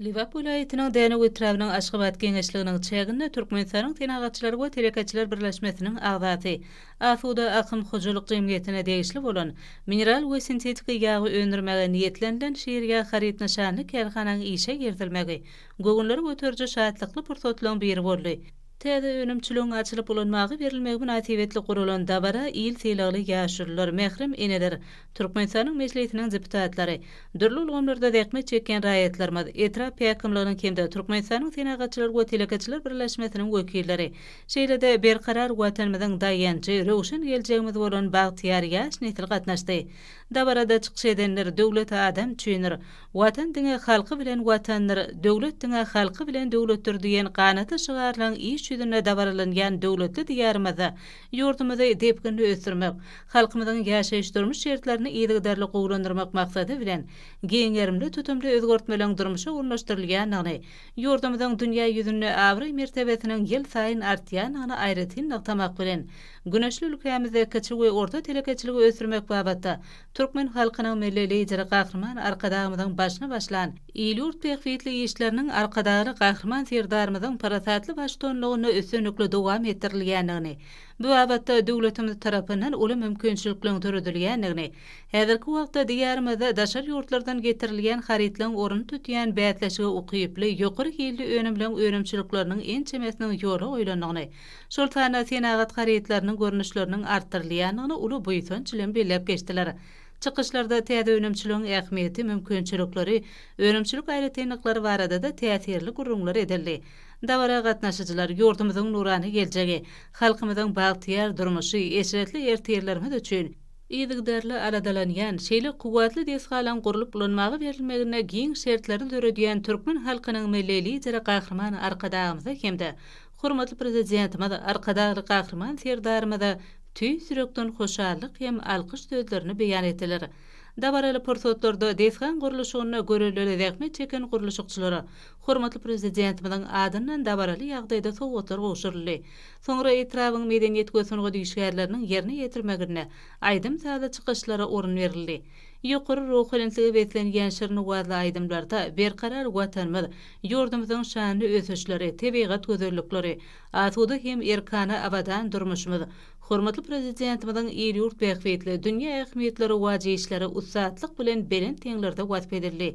Lebap welaýatynyň Dänew etrabynyň Aşgabat geňeşliginiň çäginde Türkmenistanyň Senagatçylar we telekeçiler birleşmesiniň agzasy, Asuda akym hojalyk jemgyýetine degişli bolan mineral we sintetiki ýagy öndürmäge niýetlenilen Şirýag haryt nyşanly kärhananyň işe girizilmegi göwünleri göteriji şatlykly pursatlaryň biri boldy. Täze önümçiligiň açylyp ulanmaga berilmegi mynasybetli guralan dabara il sylagly ýaşulular, mährem eneler, Türkmenistanyň Mejlisiniň deputatlary, dürli ulgamlarda zähmet çekýän raýatlarymyz, etrap häkimliginiň hem-de Türkmenistanyň Senagatçylar we telekeçiler birleşmesiniň wekilleri, şeýle-de Berkarar Watanymyzyň daýanjy, röwşen geljegimiz bolan bagtyýar ýaş nesil gatnaşdy. Dabarada çykyş edenler Döwlet adam üçindir, Watan diňe halky bilen Watandyr, Döwlet diňe halky bilen döwletdir diýen ganat şygarlaryň iş ýüzünde dabaralanýan döwletli Diýarymyzda Ýurdumyzy depginli ösdürmek, halkymyzyň ýaşaýyş-durmuş şertlerini yzygiderli gowulandyrmak maksady bilen, giň gerimli tutumly özgertmeleriň durmuşa ornaşdyrylýandygyny, ýurdumyzyň dünýä ýüzünde abraý-mertebesiniň ýylsaýyn artýandygyny aýratyn nygtamak bilen, güneşli ülkämizde kiçi we orta telekeçiligi ösdürmek babatda Türkmen halkynyň Milli Lideri Gahryman Arkadagymyzyň başyny başlan il-ýurt bähbitli işleriniň Arkadagly Gahryman Serdarymyzyň parasatly baştuanlygynda üstünlikli dowam etdirilýändigini, bu babatda döwletimiz tarapyndan uly mümkinçilikleriň döredilýändigini, häzirki wagtda Diýarymyzda daşary ýurtlardan getirilýän harytlaryň ornuny tutýan bäsleşige ukyply ýokary hilli önümleriň önümçilikleriniň ençemesiniň ýola goýlandygyny, şol sanda senagat harytlarynyň görnüşleriniň artdyrylýandygyny uly buýsanç bilen belläp geçdiler. Çykyşlarda täze önümçiligiň ähmiýeti, mümkinçilikleri, önümçilik aýratynlyklary barada-da täsirli gürrüňler edildi. Dabara gatnaşyjylar ýurdumyzyň nurana geljegi, halkymyzyň bagtyýar durmuşy, eşretli ertirlerimiz üçin, yzygiderli aladalanýan, şeýle kuwwatly desgalaryň gurlup ulanmaga berilmegine giň şertleri döredýän türkmen halkynyň Milli Lideri Gahryman Arkadagymyza hem-de Hormatly Prezidentimiz Arkadagly Gahryman Serdarymyza tüýs ýürekden hoşallyk hem alkyş sözlerini beýan etdiler. Dabaraly pursatlarda desgaň gurluşygynda görelde zähmet çeken gurluşykçylara hormatly Prezidentimiziň adyndan dabaraly ýagdaýda sowgatlar gowşuryldy. Soňra etrabyň medeniýet we sungat işgärleriniň ýerine ýetirmeginde aýdym-sazly çykyşlara orun berildi. Ýokary ruhubelentlige beslenýän şirin owazly aýdymlarda Berkarar Watanymyz, Ýurdumyzyň şanly ösüşleri, tebigat gözellikleri, asuda hem erkana abadan durmuşymyz, hormatly Prezidentimiziň il-ýurt bähbitli, dünýä ähmiýetli rowaç işleri ussatlyk bilen belent deňlerde wasp edildi.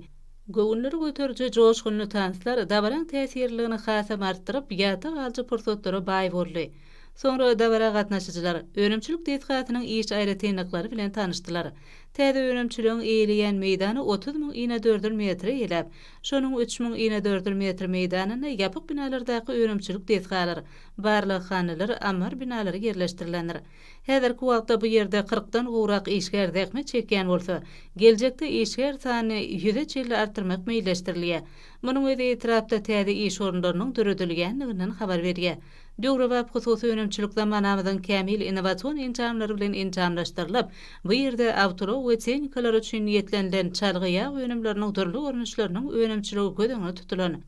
Göwünleri göteriji joşgunly tanslar dabaraň täsirliligini hasam artdyryp, ýatda galyjy pursatlara baý boldy. Soňra dabara gatnaşyjylar önümçilik desgasynyň iş aýratynlyklary bilen tanyşdylar. Täze önümçiligiň eýeleýän meýdany otuz müň inedördül metre eläp, Şonuň üç müň inedördül metr meýdanynda ýapyk binalardaky önümçilik desgalar, barlaghanalar, ammar binalary ýerleşdirilendir. Häzirki wagtda bu ýerde kyrkdan gowrak işgär zähmet çekýän bolsa, geljekde işgär sanyny ýüze çenli artdyrmak meýilleşdirilýär. Munuň özi etrapda täze iş orunlarynyň döredilýändiginden habar berýär. Döwrebap hususy önümçilik zamanamyzyň kämil innowasion enjamlary bilen enjamlaşdyrylyp, bu ýerde awtoulag we tehnikalar üçin niýetlenilen çalgy ýag önümleriniň dürli görnüşleriniň önümçiligi göz öňünde tutulan.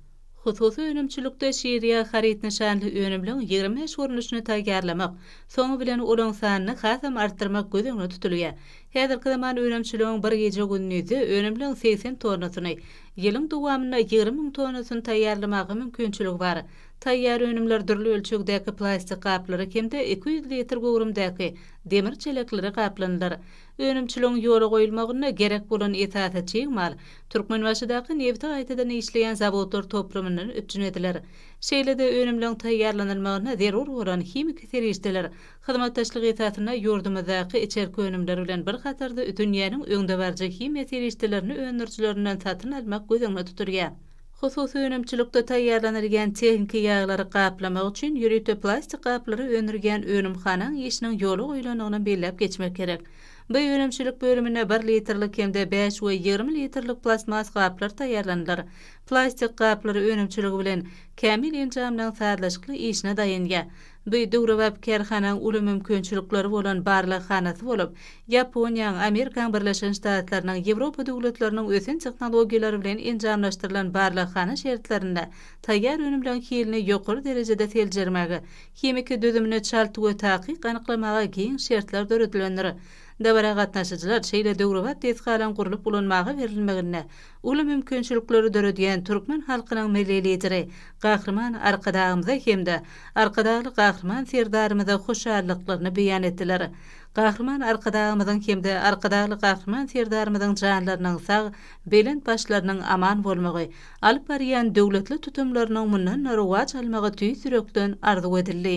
Hususy önümçilikde şir ýag haryt nyşanly önümliň ýigrimi bäş görnüşini taýýarlamak, soňy bilen olaň sanyny hasam artdyrmak göz öňünde tutulýar. Häzirki zaman önümçiligiň bir gije-gündizde önümliň segsen tonnasyny, ýylyň dowamynda ýigrimi müň tonnasyny taýýarlamaga mümkinçiligi bar. Taýýar önümler dürli ölçegdäki plastik gaplara hem-de iki ýüz litr göwrümdäki demir çeleklere gaplanylar. Önümçiligiň ýola goýulmagynda gerek bolan esasy çig mal Türkmenbaşydaky nebiti gaýtadan işleýän zawodlar toplumyndan üpjün ediler. Şeýle-de önümleň taýýarlanylmagyna zerur bolan himiki serişdeler hyzmatdaşlyk esasynda ýurdumyzdaky içerki önümler bilen bir hatarda dünýäniň öňdebaryjy himiýa serişdelerini öndürijilerinden satyn almak göz öňünde tutulýar. Hususy önümçilikde taýýarlanylýan tehniki ýaglary gaplamak üçin ýörite plastik gaplary öndürýän önümhanaň işiniň ýola goýlandygyny belläp geçmek gerek. Bu önümçilik bölüminde bir litrlik hem-de bäş we ýigrimi litrlik plastmas gaplar taýýarlanylar. Plastik gaplar önümçiligi bilen Kämil enjamlaryň sazlaşykly işine daýanýar. Bi döwrebap kärhanaň uly mümkinçilikleri bolan barlaghanasy bolup, Ýaponiýaň, Amerikaň Birleşen Ştatlarynyň, Ýewropa döwletleriniň ösen tehnologiýalary bilen enjamlaşdyrylan barlaghana şertlerinde taýýar önümleň hilini ýokary derejede seljermäge, himiki düzümini çalt we takyk anyklamaga giň şertler döredilendir. Dabara gatnaşyjylar şeýle döwrebap desgalaryň gurlup ulanmaga berilmeginde, uly mümkinçilikleri döredýän türkmen halkynyň Milli Lideri Gahryman Arkadagymyza hem-de Arkadagly Gahryman Serdarymyza hoşallyklaryny beýan etdiler. Gahryman Arkadagymyzyň hem-de Arkadagly Gahryman Serdarymyzyň janlarynyň sag, belent başlarynyň aman bolmagy, alyp barýan döwletli tutumlarynyň mundan-da rowaç almagy tüýs ýürekden arzuw edildi.